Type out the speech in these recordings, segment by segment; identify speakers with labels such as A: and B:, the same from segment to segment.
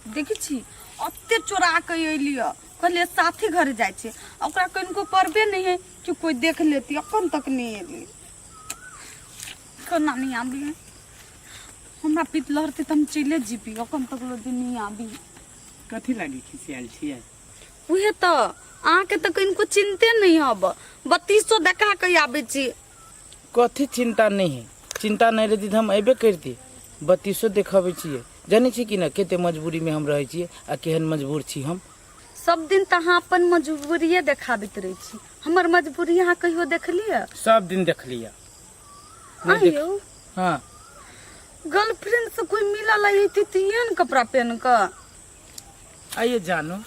A: देखै छी एते चोरा कऽ अयली हँ कहलियै साथी घर जाइ छै आ ओकरा कनिको परबे नहि है कि कोइ देख लेती अपन तक नहि अयली केना नहि आबी है हमरा पित लहरते तऽ हम चले जीबी अपन तक लो दिन नहि आबी कथी लागी
B: खिसियाल छियै उहे तऽ
A: अहाँके तऽ कनिको चिन्ते नहि हब बत्तीसो देखा कऽ आबै छी कथी
C: चिन्ता नहि है चिन्ता नहि रहती तऽ हम अयबे करिती बत्तीसो देखबै छियै जानै छी कि ने कते मजबूरीमे हम रहै छियै आ केहन मजबूर छी हम सब दिन तऽ
A: अहाँ अपन मजबूरिये देखाबैत रहै छी हमर मजबूरी अहाँ कहियो देखलियै सब दिन देखलियै
C: आ
A: यौ हाँ गर्लफ्रेंड से कोई मिला लगी थी तो ये न कपड़ा पहन कर
C: आइए जानो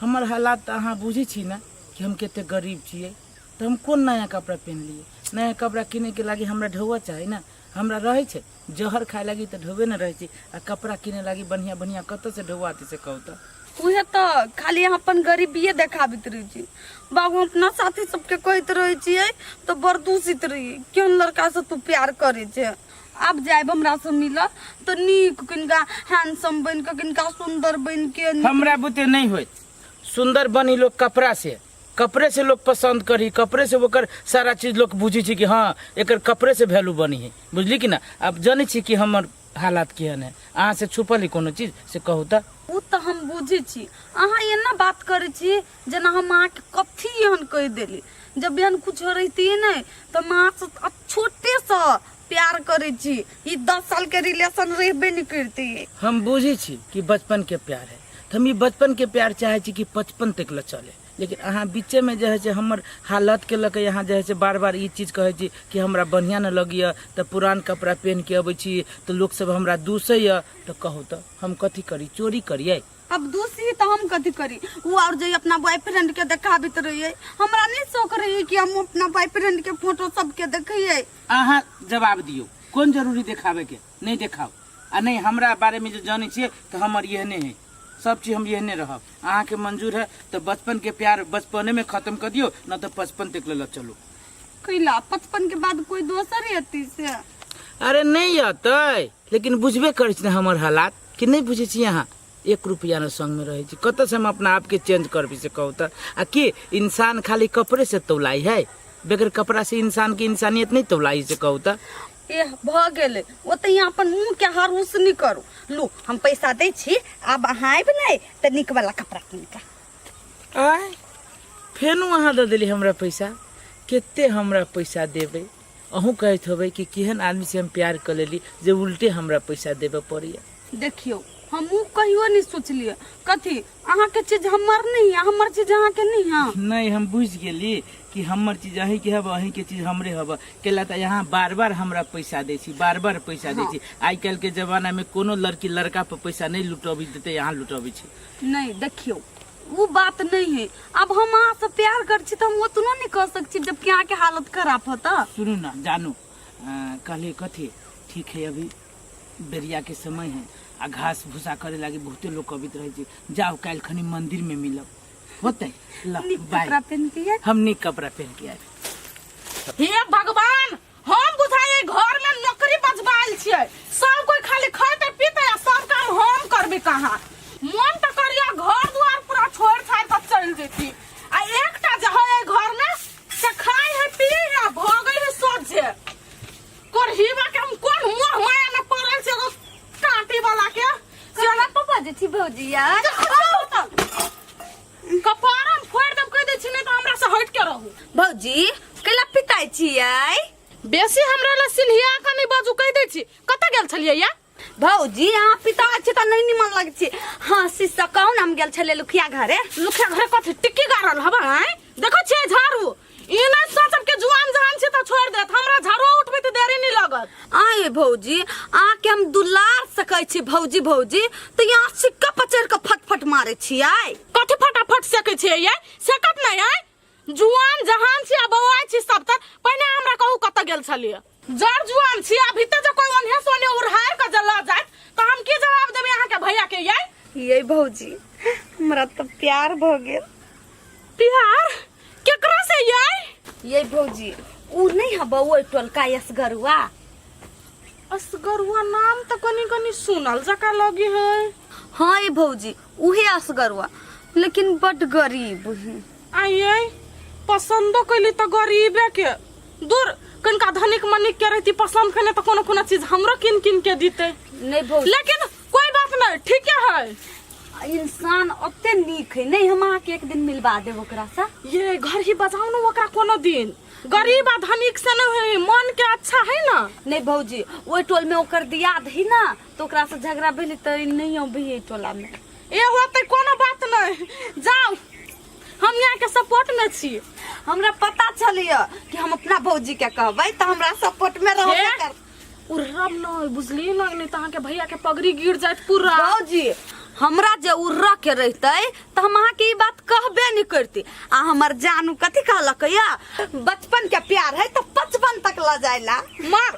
C: हमर हालात तऽ अहाँ बुझै छी ने कि हम कते गरीब छियै तऽ हम कोन नया कपड़ा पेन्हलियै नया कपड़ा किनैके लागि हमरा ढौआ चाही ने हमरा रहै छै जहर खाय लागि तऽ ढौए ने रहै छै आ कपड़ा किनै लागि बढ़िआँ बढ़िआँ कतऽसँ ढौआ अतै से कहू तऽ उहे तो
A: खाली यहाँ अपन गरीबिये देखाबित रहे छी बाबू हम अपना साथी सबके कहते रहे छियै तो बरदूसित रही क्यों लड़का से तू प्यार करे छे अब जाएब हमरा से मिल तो नीक किनका हैंडसम बन के किनका सुंदर बन के हमरा बुते नहीं
C: होइत सुंदर बनी लोग कपड़ा से कपड़े से लोग पसंद करी कपड़े से ओकर सारा चीज लोग बुझी छी कि हाँ एकर कपड़े से वैल्यू बनी है बुझली कि ना अब जानी छी कि हमर हालात केहन है अहाँ से छुपल है कोनो चीज से कहू तऽ ओ तऽ हम बुझै
A: छी अहाँ एना बात करै छी जेना हम अहाँके कथी एहन कहि देली जब एहन कुछो रहितियै नहि तऽ हम अहाँसँ छोटेसँ प्यार करे छी ई दस साल के रिलेशन रहबे नहीं करते हम बुझे छी
C: कि बचपन के प्यार है तो हम ई बचपन के प्यार चाहे छी कि पचपन तक ले चले लेकिन अहाँ बीचे में जे है से हमर हालत के लके यहाँ जे है से बार बार ई चीज कहे छी कि हमरा बढ़िया न लगिए तो पुरान कपड़ा पहन के अबै छी तो लोग सब हमरा दूसैए तो कहू तो हम कथी करी चोरी करिए अब दूसरी तो
A: हम कथी करी वो और जो अपना बॉयफ्रेंड के देखाबित रहिए हमरा नहीं शौक रही कि हम अपना बॉयफ्रेंड के फोटो सबके देखिए अहाँ जवाब
C: दियौ कोन जरूरी देखाबे के नहीं देखाओ आ नहीं हमरा बारे में जो जाने छे तो हमर यहने है सब चीज हम यहने रहब अहाँ के मंजूर है तो बचपन के प्यार बचपने में खत्म कर दियो न तो पचपन तक ले चलो कैला
A: पचपन के बाद कोई दोसर रहती से अरे नहीं
C: अतै लेकिन बुझबे करै छी ने हमर हालात कि नहीं बुझे छी अहाँ एक रुपया न संग में रहे छी कत से हम अपना आप के चेंज करबी से कहू त आ की इंसान खाली कपड़े से तौलाई है बगैर कपड़ा से इंसान की इंसानियत नहीं तौलाई से कहू त ए भ
A: गेले ओते यहाँ अपन मुंह के हार उस नहीं करू लू हम पैसा दे छी अब अहाँ आबि नहीं तो निक वाला कपड़ा किन के आय
C: फेनु अहाँ दे देली हमरा पैसा कते हमरा पैसा देबै अहूँ कहैत होबै कि केहन आदमीसँ हम प्यार कऽ लेली जे उल्टे हमरा पैसा देबऽ पड़ैए देखियौ
A: हमहूँ कहियो नहि सोचलियै कथी अहाँके चीज हमर नहि यऽ हमर चीज अहाँके नहि यऽ नहीं हम बुझ गेली
C: कि हमर चीज अहीं के हब अहीं के चीज हमरे हब कैला तऽ यहाँ बार बार हमरा पैसा दै छी बार बार पैसा दै छी आइ काल्हि के जमाना में कोनो लड़की लड़का पर पैसा नहीं लुटबी देते यहाँ लुटबी छी नहि देखियौ
A: ओ बात नहीं है अब हम अहाँ से प्यार कर छी तो हम उतनो नहीं कर सक छी जबकि अहाँ के हालत खराब होता सुनू ना जानू
C: अं, कहले कथी ठीक है अभी बेरिया के समय है आ घास भूसा करे लागी बहुते लोग अबित रहे छै जाओ काल्हि खनी मंदिर में मिलब होते ल नीक बाय कपड़ा
A: पहन के आएब। हम नीक कपड़ा पहन
C: के आएब हे
D: भगवान हम बुझाइए घर में नौकरी बजबाइल छिए सब कोई खाली खैते पीते आ सब काम हम करबे कहाँ मन तो करिया घर द्वार पूरा छोड़ छाड़ कर चल जेती आ एकटा जे है घर में से खाई है पी है भोगई है सब जे कोर हिवा के हम कोन मुंह माया न पड़ल से एगो काटी वाला के से ना पापा
A: जी छी भौजी यार
D: कपार हम फोड़ देब कह दे छी नहीं तो हमरा से हट के रहू भौजी
A: कैला पिताई छियै बेसी हमरा
D: ला सिलहिया का नहीं बाजू कह दे छी कत गेल छलिए या भौजी अहाँ
A: पिता छी तऽ नहि निमन लगै छी हँ शिष्य कहू ने हम गेल छलियै लुखिया घरे लुखिया घरे कथी टिक्की
D: गाड़ल हबे देखो छे झाड़ू ई नहीं सोचब के जुआन जहान छी त छोड़ देत हमरा झाड़ो उठबे त देरी नहीं लगत आए भौजी
A: आके हम दुलार सकै छी भौजी भौजी तो यहाँ सिक्का पचर के फटफट मारे छी आए कथी फटाफट
D: सेके छे ये सेकत नहीं है जुआन जहान छी आ बौआ छी सब तर पहिने हमरा कहू कत गेल छलिए जड़ जुआन छी अभी तक जो कोई ओन्हे सोने उड़हार के जला जात तो हम की जवाब देबे अहाँ के भैया के ये ये भौजी
A: हमरा तो प्यार भ गेल प्यार
D: केकरा से ये ये
A: भौजी उ नहीं है बउआ टोलका यसगरुआ
D: असगरुआ नाम
A: तो
D: कनी कनी सुनल जका लगी है हाँ
A: ये भौजी उहे असगरवा लेकिन बड गरीब है आइए
D: पसंदो कैली तो गरीबे के दूर कनिका धनिक मनिक के रहती पसंद कने तो कोनो कोनो चीज हमरो किन किन के दीते नहीं भौज लेकिन
A: कोई बात
D: नहीं ठीक है इंसान ओते
A: नीक है नहीं हम अहाँके एक दिन मिलवा देब ओकरा से ये घर ही बजाओ
D: ना ओकरा कोनो दिन गरीब आ धनिक से नहीं है मन के अच्छा है ना नहीं भौजी
A: ओहि टोल में ओकर दियाद है ना तो ओकरा से झगड़ा भेल तो ई नहीं अभी ये टोला में ए होते कोनो
D: बात नहीं जाओ हम यहाँ के सपोर्ट में छी हमरा पता
A: चलिए कि हम अपना भौजी के कहबै तऽ हमरा सपोर्ट में रहबे हे? कर उ
D: रब
A: न
D: बुझली न नहीं तो अहाँ के भैया के पगड़ी गिर जात पूरा भौजी
A: हमरा जे उर्रा के रहते तऽ हम अहाँ के ई बात कहबे नहीं करती आ हमर जानू कथी कहलक या बचपन के प्यार है तऽ पचपन तक ल जाइला मार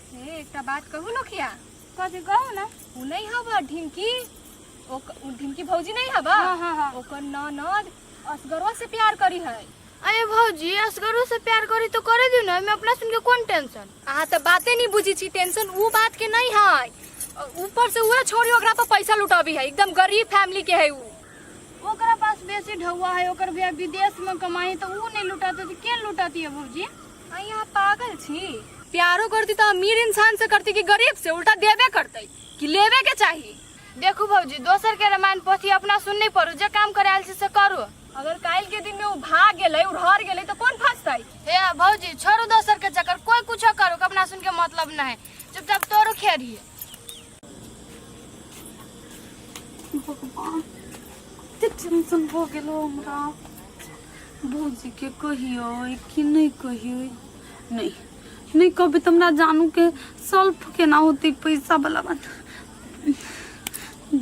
D: हे
E: एकटा बात कहू नोखिया कथी कहू ना उ नहीं हब ढिमकी ओक- उ ढिमकी भौजी नहीं हब हाँ, हाँ, हाँ। ओकर
A: ननद
E: असगरवा से प्यार करी है अरे भौजी
F: असगरो से प्यार करी तो करे दी ना मैं अपना सुन के कौन टेंशन अहाँ तऽ बाते नहीं
E: बुझी छी टेंशन उ बात के नहीं है अ, ऊपर से उहे छोरी ओकरा पर पैसा लुटाबी है एकदम गरीब फैमिली के है उ ओकरा
F: पास बेसी ढौआ है ओकर भैया विदेश में कमाई तो ऊ नहीं लुटाते तो के लुटाती है भौजी अहीं यहाँ पागल
E: छी प्यारो करती तो अमीर इंसान से करती कि गरीब से उल्टा देवे करते कि लेवे के चाहिए देखू भौजी
F: दोसर के रामायण पोथी अपना सुन नहीं पड़ू जे काम करे आयल छी से करू अगर काल के दिन
E: में वो भाग गेले उड़हर गेले तो कौन फंसते हे भौजी
F: छोड़ू दोसर के चक्कर कोई कुछो करू अपना सुन के मतलब नहीं चुपचाप तोरू खेरिए
A: भगवान कते टेंशन भऽ गेल हो हमरा भौजीके कहियो कि नहि कहियो नहि नहि कहबै तऽ हमरा जानूके सल्फ केना होतै पैसावला बात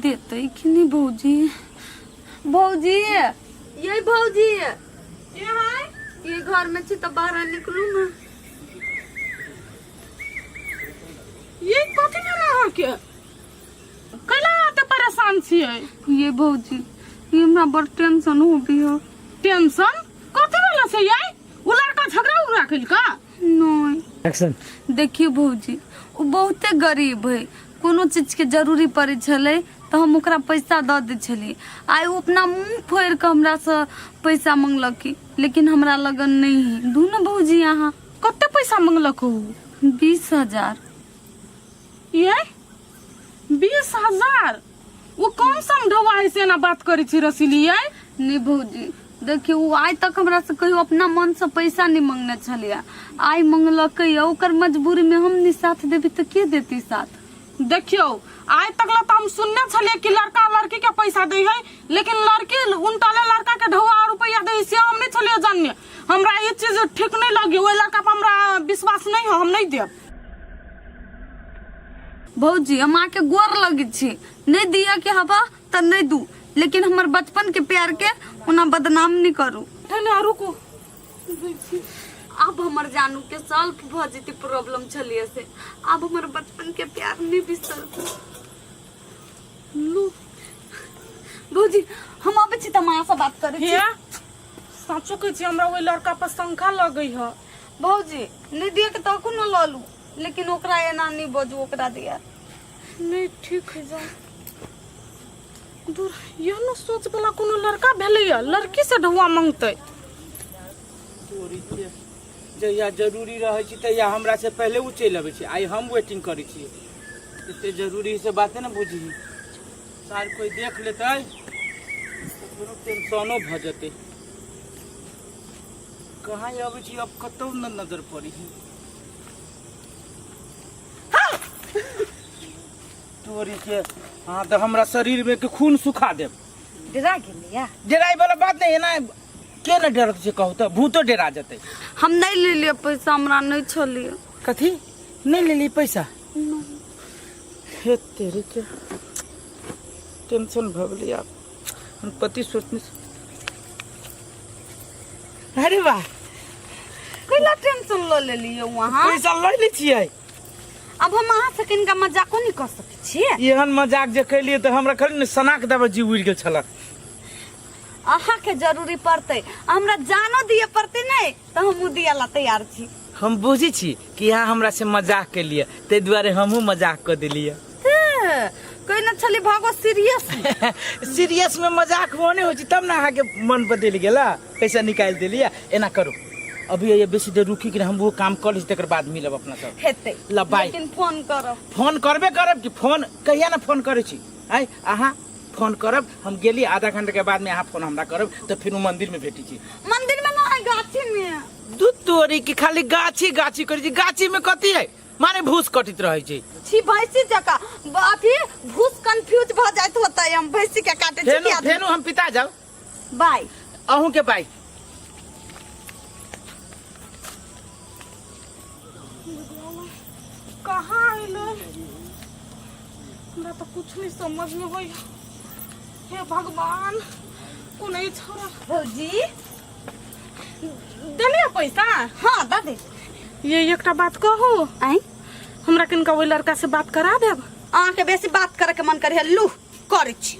A: देतै कि नहि भौजी भौजी ये भौजी के है ये घर में छी तऽ बाहर निकलू ने
D: ये कथी भेल अहाँके कैला एते परेशान छियै ये
A: भौजी ये हमरा बड़ टेंशन हो भी हो टेंशन
D: कथी भेल से ये उ लड़का झगड़ा उगड़ा कइलका नहीं
A: एक्शन
C: देखियो भौजी
A: ओ बहुते गरीब है कोनो चीज के जरूरी पड़े छले तो हम ओकरा पैसा दऽ दै छलियै आइ ओ अपना मुंह फोड़ि कऽ हमरा से पैसा मंगलक लेकिन हमरा लगन नहीं है दू ने भौजी अहाँ कते पैसा
D: मंगलक ऊ बीस
A: हजार
D: ये बीस हजार ऊ कौन समझौवा है से एना बात करै छी रसीली ये नहीं भौजी
A: देखियो ऊ आइ तक हमरा से कहियो अपना मन से पैसा नहीं मंगने छलिए आइ मंगलकै या ओकर मजबूरी में हम नहीं साथ देबी तो के देती साथ देखियो
D: आइ तक ला तो हम सुनने छलिए कि लड़का लड़की के पैसा दै है लेकिन लड़की उनटले लड़का के ढोआ और रुपया दे से हम नहीं थोलियो जानिए हमरा ये चीज ठीक नहीं लगी ओए लड़का पर हमरा विश्वास नहीं है हम नहीं देब
A: भौजी हम आके गोर लगी छी नहीं दिया के हवा त नहीं दू लेकिन हमर बचपन के प्यार के ओना बदनाम नहीं करू ठने और रुको अब हमर जानू के सॉल्व भ जेती प्रॉब्लम छलिए से अब हमर बचपन के प्यार नहीं बिसर लू भौजी हम अबै छी तऽ हम अहाँसँ बात करै छी हिया
D: साँचो कहै छी हमरा ओहि लड़का पर शंका लगै ह भौजी
A: नहि दिए के तकू न लऽ लू लेकिन ओकरा एना नहि बजू ओकरा दिया नहि
D: ठीक है जाओ दूर यह न सोच वाला कोनो लड़का भेलै ह लड़की से ढौआ मांगतै
C: जहिया जरूरी रहै छी तहिया हमरा से पहिले उ चलि अबै छी आइ हम वेटिंग करै छी एते जरूरी से बाते ने बुझी सार कोई देख लेतै तऽ कोनो टेंशनो भऽ जेतै कहाँ अबै छी अब कतौ न नजर पड़ी तोरी के हाँ तो हमरा शरीर में के खून सुखा देब डरा गेलिया
A: जराई वाला बात नहीं
C: है ना के न डरत छै कहू तऽ भूतो डरा जेतै हम नहीं ले लिए
A: पैसा हमरा नहीं छलिए कथी
C: नहि लेली पैसा हे तेरी के टेंशन भऽ गेलै आब हम पति सोचने छी- अरे वाह
A: कैला टेंशन ल ले लिए वहाँ पैसा लऽ लै छियै
C: अब हम
A: अहाँ से किनका मजाको नहीं कर सके छिए एहन मजाक जे
C: कैलियै तऽ हमरा खाली ने सनाक दबा जी उड़ि गेल छलक
A: अहाँ के जरूरी पड़ते आ हमरा जानो दिए पड़ते नहीं तो हम दिया ला तैयार छी हम बुझी छी
C: कि यहाँ हमरा से मजाक के लिए ते दुआरे हमहू मजाक कर दिलिए हे,
A: कोई न छली भागो सीरियस सीरियस
C: में मजाक होने हो छी, तब ना अहाँ के मन पर दिल गेला पैसा निकाल दिलिए एना करू अभी ये बेसी देर रुकी कि हम वो काम कर ली तकर बाद मिलब अपना सब हेते ला, बाय। लेकिन
A: फोन
C: करो
A: फोन करबे करब
C: कि फोन कहिया ना फोन करे छी आय अहाँ फोन करब हम गेली आधा घंटा के बाद में यहाँ फोन हमरा करब तो फिर वो मंदिर में भेटी छी मंदिर में ना है
A: गाछी में दू तोरी की
C: खाली गाछी गाछी करी छी गाछी में कथी है माने भूस कटित रहे छी छी भैंसी जका
A: अथी भूस कंफ्यूज भ जाइत होता है हम भैंसी के काटे छी फेनु क्या फेनु हम पिता जाऊ
C: बाय
A: अहूँ के बाय
D: कहाँ आइलो हमरा तो कुछ नहीं समझ में होई हे भगवान को नहीं छोड़ा भौजी देने है पैसा हाँ दा दे
A: ये एकटा
D: बात कहो आई
A: हमरा किनका
D: ओहि लड़का से बात करा देब अहाँके बेसी बात
A: करैके मन करै लू करै छी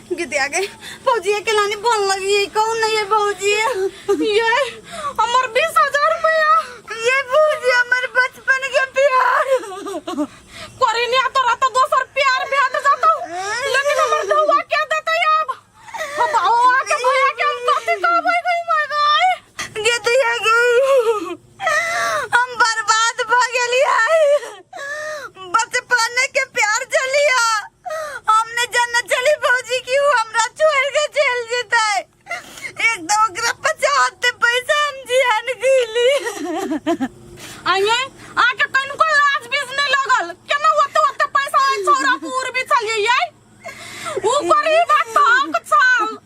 G: गीत आ गई
A: भौजी के लानी बोल लगी ये कौन नहीं है भौजी ये
D: हमर बीस हजार रुपया ये भौजी
A: हमर बचपन के प्यार
D: करे नहीं आता रहता दोसर प्यार भेट जाता लेकिन हमर धुआ क्या देता है अब हम आओ आके भैया के हम कथी कहबै गई माय गई गीत आ गई
A: हम बर्बाद भ गेली है बचपने के प्यार चलिया हमने जन्नत चली भौजी की ऊ हमरा छोड़ के चल जेते एक दो ओकरा पचाते पैसा हम जियान गईली
D: आइए आके तनको लाज बीज नहीं लगल केना ओते ओते पैसा है छोरा पूर भी चलिए ऊपर ही बात तो हक छल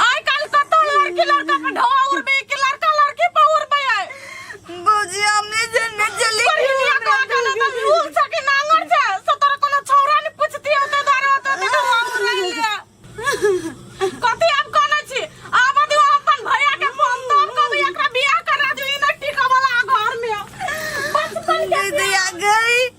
D: आइ काल कत लड़की लड़का पर ढोआ उड़बे कि लड़का लड़की पर उड़बे है भौजी
A: हमने जन्म चली पर हिनिया को आके ना
D: तो लूल छ कि नांगर छ सो तोरा कोनो छौरा ने पूछती हो तो दारो तो ते ढोआ उड़ले लिया कथी आप कहने छी आब दियो अपन भैया के फोन तोड़ के भी एकरा बियाह करा दियो ई ना टिका वाला घर में बचपन के दीदी आ गई